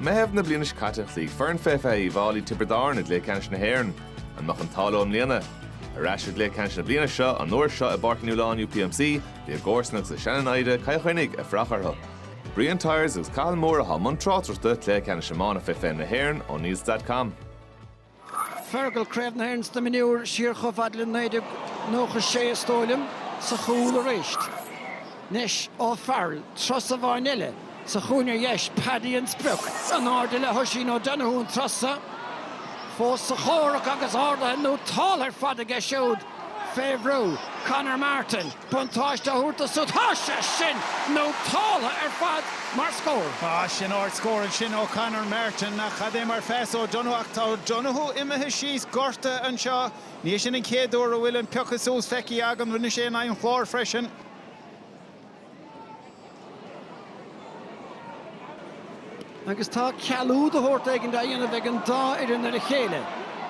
Meitheamh na bliana seo caite chloígh foireann fé fiche Uíbh Fháilí Tiobraid Árann i gcluiche ceannais na hÉireann. An mbeadh an t-ádh leo i mbliana? Ar ais i gcluiche ceannais na bliana seo, an uair seo i bPáirc Uí Nualláin UPMC, bhí a gcomharsana agus a seana-naimhde, Cill Chainnigh, ag fuireach orthu. Brian Tyers agus Cathal Moore atá i mbun tráchtaireachta cluiche ceannais iomána fé fiche na hÉireann O'Neills.com. Fergal, Craobh na hÉireann sna Mionúir, siar chomh fad le 1996, is dóigh liom, sa chúl aríst. Anois, O'Farrell, turas amháin eile, sa chúinne ar dheis, Paddy an sprioc, in airde le hOisín O'Donoghue an turas so, fós sa chomhrac agus ardaithe nótáltha ar fad aige siúd. fé bhrú, Conor Martin, buntáiste a thabhairt dó súd. Tá sé sin nótáltha ar fad mar scór. Tá sin ard scór ansin ó Conor Martin ach cad é mar phas ó O'Donoghue ach tá O'Donoghue imithe síos gortaithe anseo. Ní hé sin an chéad uair a bhfuil an piocadh suas feicthe againn rinne sé in aghaidh an Chláir freisin. Agus tá cealú de shórt éigin á dhéanamh ag an dá fhoireann ar a chéile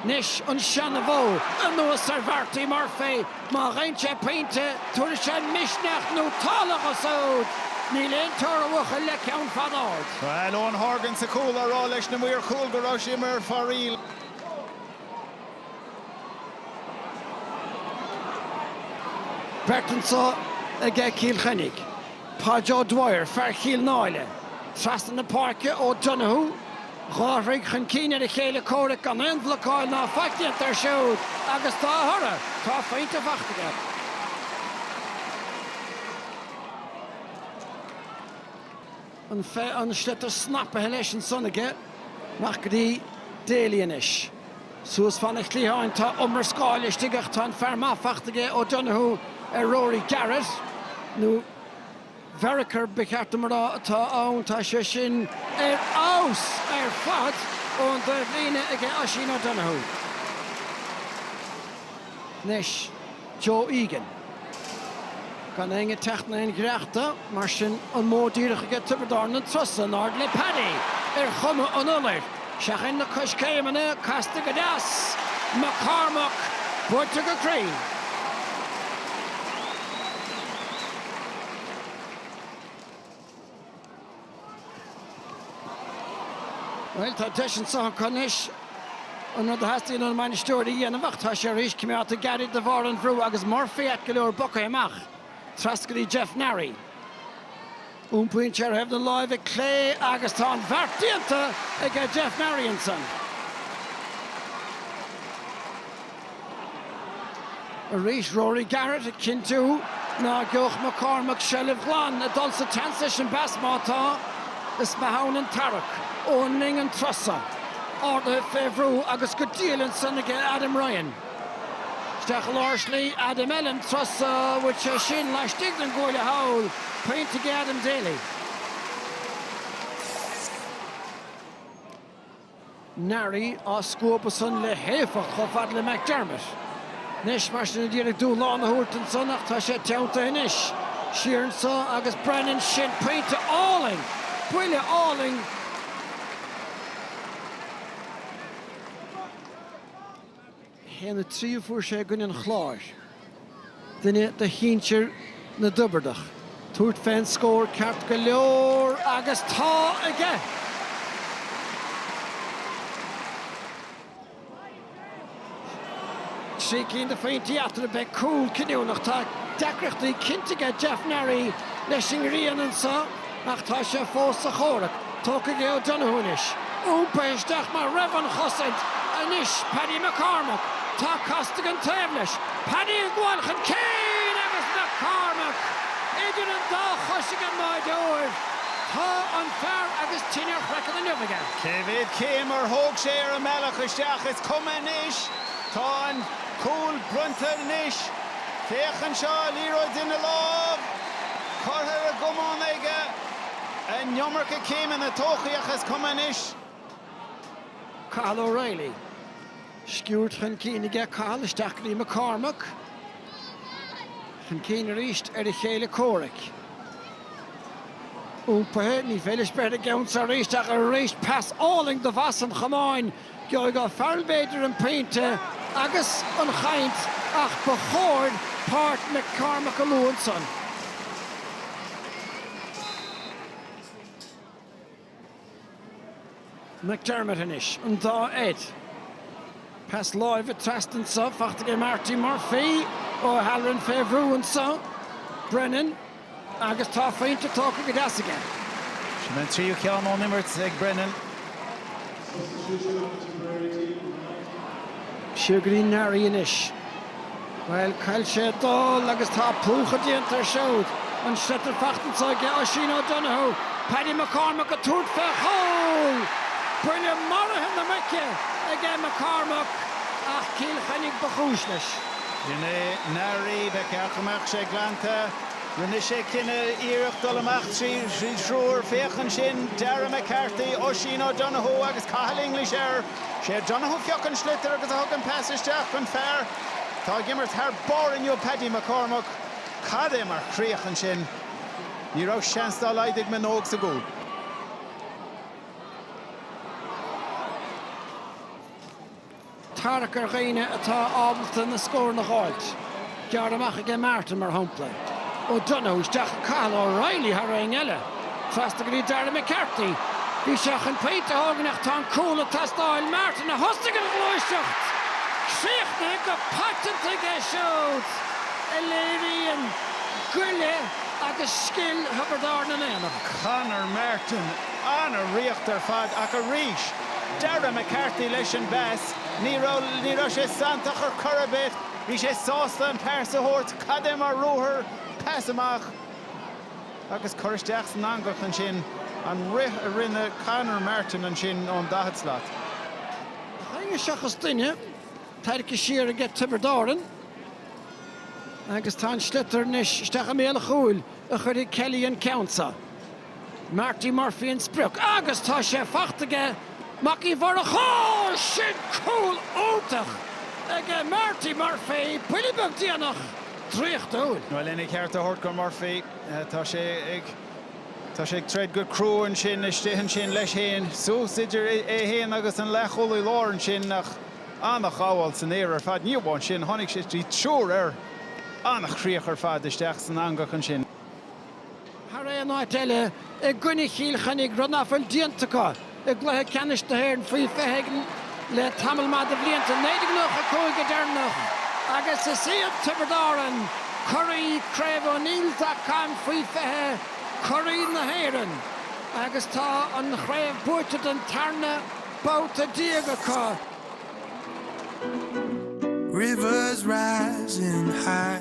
anois, an seana-mhodh anuas ar Mharty Murphy, má gheibheann sé pointe, tabharfaidh sé misneach nótáltha dhó súd! Níl aon teora, a bhuachaill, le ceann fada ard. Bhuel, Eoin Horgan sa chúl á rá leis na maoir chúil go raibh sé imithe ar fóraoil. Beirt anso aige Cill Chainnigh, Páid O'Dwyer, fear Chill Náile, trasna na páirce O'Donoghue, dhá throigh chun cinn ar a chéile comhraic gan aon bhlocáil ná faic déanta air siúd agus dá thoradh tá a phointe fachta aige. an sliotar snapaithe leis ansan aige, amach go dtí Daly anois. Suas fan an chliatháin, tá iomrascáil istigh ach tá an fear maith fachta aige, O'Donoghue ar Rory Garrett, nó Vereker ba cheart dom a rá atá ann, tá sé sin ar fheabhas ar fad ón dtaobhlíne aige Oisín O'Donoghue. Anois. Joe Egan. Gan éinne ag teacht in aon ghiorracht dó, mar sin, an modh díreach aige Tiobraid Árann an turas so in airde le Paddy ar chuma an iolair. Seachain na coiscéimeanna, casta go deas! McCormack buailte go cruinn. Bhuel, tá deis anso acu anois an rud a theastaíonn ón mbainisteoir a dhéanamh ach tá sé arís coimeádta gairid de bharr an bhrú agus Murphy ait go leor bogtha amach, trasna go dtí Jeff Neary. Iompaíonn sé ar thaobh na láimhe clé agus tá an bheart déanta aige Jeff Neary ansan. Arís, Rory Garrett ag cinntiú ná geobhadh McCormack seilbh ghlan ag dul sa tseans leis an bpas má tá, is maith ann an tarrac, Eoghan Lyng an turas so, ardaithe fé bhrú agus go diail ansan ag Adam Ryan. Isteach i lár slí Adam eile an turas so, bhuail sé sin laistigh den gcuaille thall, pointe ag Adam Daly. Neary á scuabadh san le héifeacht chomh fada le McDermott. Anois, mar sin, a d'iarraidh dúshlán a thabhairt ansan ach tá sé teanntaithe anois. Siar anso agus Brennan, sin pointe álainn! Buille álainn! Haon a trí a fuair sé i gcoinne an Chláir, duine de shinsir na dTiobradach, tabhairt fén scór ceart go leor agus tá aige! Trí cinn de phointí eatarthu, beidh cúl cinniúnach. Tá deacrachtaí cinnte aige Jeff Neary leis an ngrian anso. Ach tá sé fós sa chomhrac. Tógtha aige O'Donoghue anois iompaithe isteach mar roimh an chosaint anois, Paddy McCormack. Tá Costigan taobh leis. Paddy ag gabháil chun cinn agus McCormack idir an dá chois ag an mbáireoir. Tá an fear agus tine ar a chraiceann inniu aige. Cé mhéad céim ar thóg sé ar an mbealach isteach? Is cuma anois. Tá an cúl bronnta anois. Féach anseo, liathróid ina lámh. curtha ar an gcamán aige an iomarca céimeanna tógtha ach is cuma anois. Cathal O'Reilly, sciúrd chun cinn aige Cathal isteach go dtí McCormack, chun cinn arís ar a chéile comhraic. Iompaithe, ní féidir leis breith ar an gceann so arís ach arís pas álainn de bhas an chamáin. Gheobhaidh O'Farrell b'fhéidir an pointe agus an chaint ach ba chóir páirt McCormack a lua ansan. McDermott anois, an dá Ed. Pas láimhe trasna anso, faighte ag Marty Murphy. O'Halloran fé bhrú anso. Brennan. Agus tá pointe tógtha go deas aige. Sin an tríú ceann ón imirt ag Brennan. Siar go dtí Neary anois. Bhuel, cá bhfuil sé ag dul agus tá plúchadh déanta air siúd. An sliotar faighte anso aige, Oisín O'Donoghue. Paddy McCormack ag tabhairt fé chúl! Buille maraithe na muice aige McCormack ach Cill Chainnigh ba chúis leis. B'in é Neary. Ba cheart go mbeadh sé glanta. Rinne sé cineál iarracht dul amach trí thriúr. Féach ansin, Darragh McCarthy, Oisín O'Donoghue agus Cathal English air. Sé O'Donoghue a phioc an sliotar agus a thug an pas isteach chun fear atá ag imirt thar barr inniu, Paddy McCormack. Cad é mar chríoch ansin! Ní raibh seans dá laghad ag Manogue sa gcúl. tarrac ar dhaoine atá ábalta na scóranna a dh'fháilt. Gearr amach aige Martin, mar shampla. O'Donoghue, isteach ag Cathal O'Reilly thar éinne eile. Feasta go dtí Darragh McCarthy. Bhí sé chun pointe a thógaint ach tá an cúl ag teastáil. Martin a thosaigh an ghluaiseacht! Críochnaithe go paiteanta aige siúd a léiríonn goile agus scil Thiobraid Árann in aon am. Conor Martin, an-chríoch ar fad ach arís! Darragh McCarthy leis an bpas. Ní raibh, ní raibh sé santach ar chor ar bith, bhí sé sásta an pas a thabhairt, cad é mar ruathar, pas amach agus cur isteach san eangach ansin, an rith a rinne Conor Martin ansin ón daichead slat. Gach éinne seachas duine tarraicthe siar aige Tiobraid Árann agus tá an sliotar anois isteach i mbéal an chúil a chuirfidh Kelly an ceann seo. Marty Murphy an sprioc agus tá sé faighte aige, Mac Uí Mhurchadha! Sin cúl iontach aige Marty Murphy, buille beag déanach, draíochtúil. Bhuel, lena cheart a thabhairt go Murphy, tá sé ag, tá sé ag troid go crua ansin istigh ansin leis fhéin, suas idir é fhéin agus an leathchúlaí láir ansin ach an-ghabháil san aer ar fad, ní amháin sin, tháinig sé, bhí triúr air, an-chríoch ar fad isteach san eangach ansin. thar aon áit eile, i gcoinne Chill Chainnigh, rud nach bhfuil déanta acu i gcluiche ceannais na hÉireann faoi 20 le tamall maith de bhlianta, 1995 go deireanach, agus is iad Tiobraid Árann curaí Chraobh O'Neills dot com faoi 20, curaí na hÉireann, agus tá an chraobh buaite den tarna babhta déag acu. Rivers rising high.